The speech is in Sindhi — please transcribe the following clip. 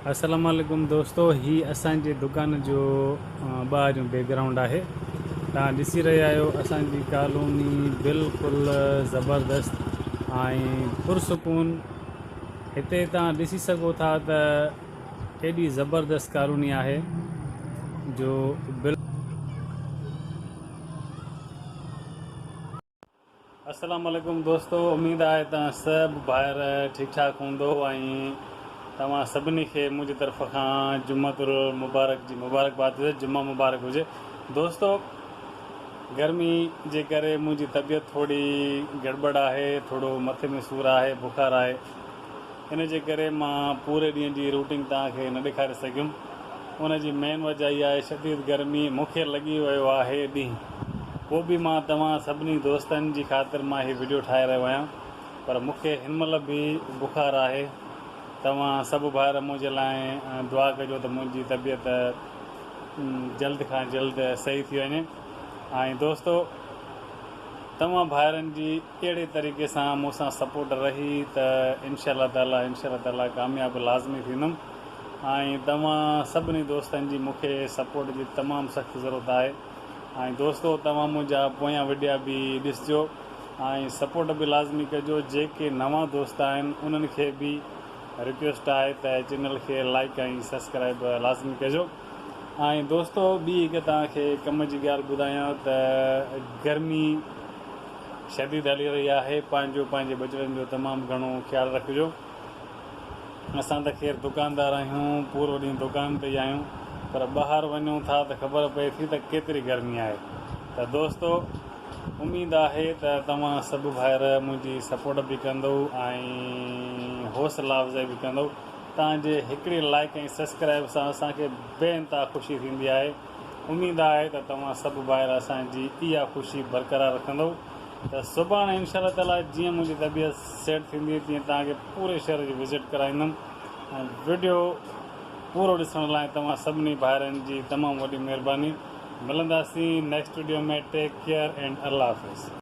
السلام عليڪم دوستو هي اسان جي دڪان جو ٻاهريون بيڪ گرائونڊ آهي توهان ڏسي رهيا آهيو اسان جي ڪالوني بلڪل زبردست ۽ پرسڪون هتي توهان ڏسي سگهو ٿا ته ايڏي زبردست ڪالوني آهي جو بل السلام عليڪم دوستو اميد آهي ته سڀ ڀائر ٺيڪ ٺاڪ هوندو ۽ توهان سڀني کي منهنجي طرف کان جمعت المبارڪ جي مبارڪباد هجي جمعه مبارڪ هجي دوستو گرمي جي ڪري منهنجي طبيعت ٿوري گڙٻڙ آهي ٿورو مٿي ۾ سور آهي بخار آهي ان جي ڪري مان پوري ڏينهن جي روٽين توهان کي نه ڏيکاري سگهيم. ان جي مين وجهه اهي آهي شديد گرمي، مون کي لڳي ويو آهي ڏينهن. پوء به مان توهان سڀني دوستن جي خاطر مان هي وڊيو ٺاهي رهيو آهيان پر مون کي هن مهل به بخار آهي. توهان سڀ ڀائر منهنجي لاء دعا ڪجو ته منهنجي طبيعت جلد کان جلد صحيح ٿي وڃي ۽ دوستو توهان ڀائرن جي اهڙي طريقي سان مون سان سپورٽ رهي ته انشاء الله تعالي انشاء الله تعالي ڪامياب لازمي ٿيندم ۽ توهان سڀني دوستن جي مون کي سپورٽ جي تمام سخت ضرورت آهي ۽ دوستو توهان منهنجا پويان وڊيا به ڏسجو ۽ سپورٽ به لازمي ڪجو جيڪي نوان دوست آهن انهن کي به رڪويسٽ آهي ته چينل کي لائيڪ ۽ سبسڪرائيب لازمي ڪجو ۽ دوستو ٻي هڪ توهان کي ڪم جي ڳالهه ٻڌايان ته گرمي شديد هلي رهي آهي پنهنجو پنهنجي ٻچڙن جو تمام گهڻو خيال رکجو اسان ته خير دڪاندار آهيون پورو ڏينهن دڪان تي ئي آهيون پر ٻاهر وڃون ٿا ته خبر پئي ٿي ته ڪيتري گرمي آهي ته دوستو اميد آهي ته توهان سڀ ڀائر منهنجي سپورٽ به ڪندئو ۽ حوصلا افزائي به ڪندئو توهان جي هڪڙي لائڪ ۽ سبسڪرائب سان اسان کي بي انتها خوشي ٿيندي آهي اميد آهي ته توهان سڀ ڀائر اسان جي اها خوشي برقرار رکندؤ ته سڀاڻي انشاء الله تعالي جيئن منهنجي طبيعت سيٽ ٿيندي تيئن توهان کي پوري شهر جي وزٽ ڪرائيندم ۽ وڊيو پورو ڏسڻ لاء توهان سڀني ڀائرن جي تمام وڏي مهرباني ملنداسين next video ۾ take care and الله حافظ.